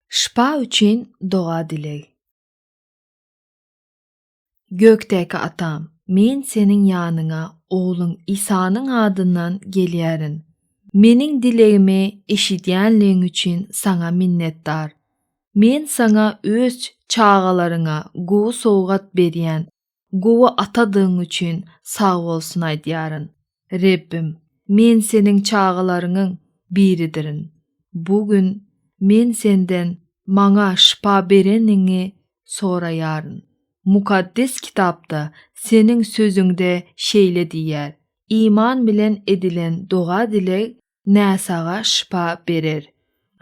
Şypa üçin doga-dileg. Gökdäki Atam, men Seniň ýanyňa Ogluň Isanyň adyndan gelýärin. Meniň dilegimi eşidýänligiň üçin Saňa minnetdar. Men Saňa öz çagalaryňa gowy sowgat berýän Gowy atadygyň üçin sag bolsun aýdýaryn. Rebbim, men Seniň çagalaryňyň biridirin. Bu gün men Senden maňa şypa bereniňi soraýaryn. Mukaddes Kitapda Seniň Sözüňde şeýle diýýär, Iman bilen edilen doga-dileg näsaga şypa berer.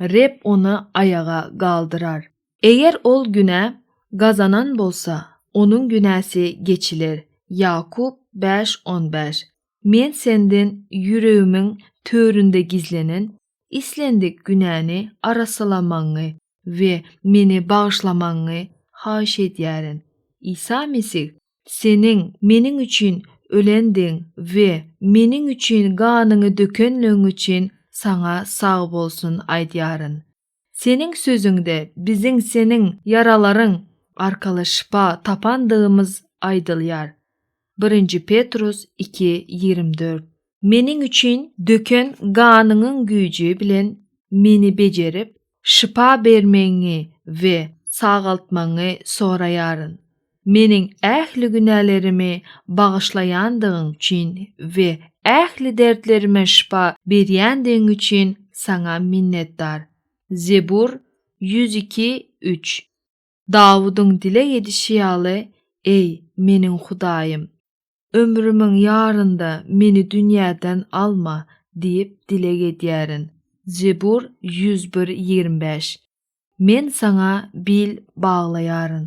Reb ony aýaga galdyrar. Eger ol günä gazanan bolsa, onuň günäsi geçiler, Ýakup bäş on bäş. Men senden ýüregimiň töründe gizlenen islendik günäni arassalamagyňy we meni bagyşlamagyňy haýyş edýärin. Isa Mesih, Seniň meniň üçin ölendigiň we meniň üçin ganyňy dökenligiň üçin Saňa sag bolsun aýdýaryn. Seniň Sözüňde biziň Seniň ýaralaryň arkaly şypa tapandygymyz aýdylýar. Birinji Petrus iki ýigrimi dört Meniň üçin döken ganyňyň güýji bilen meni bejerip, şypa bermegiňi we sagaltmagyňy soraýaryn. Meniň ähli günälerimi bagyşlaýandygyň üçin we ähli dertlerime şypa berýändigiň üçin Saňa minnetdar. Zebur ýüz iki üç. Dawudyň dileg edişi ýaly, Eý, meniň Hudaýym! Ömrümiň ýarynda meni dünýäden alma diýip dileg edýärin. Zebur ýüz bir, ýigrimi bäş. Men Saňa bil baglaýaryn.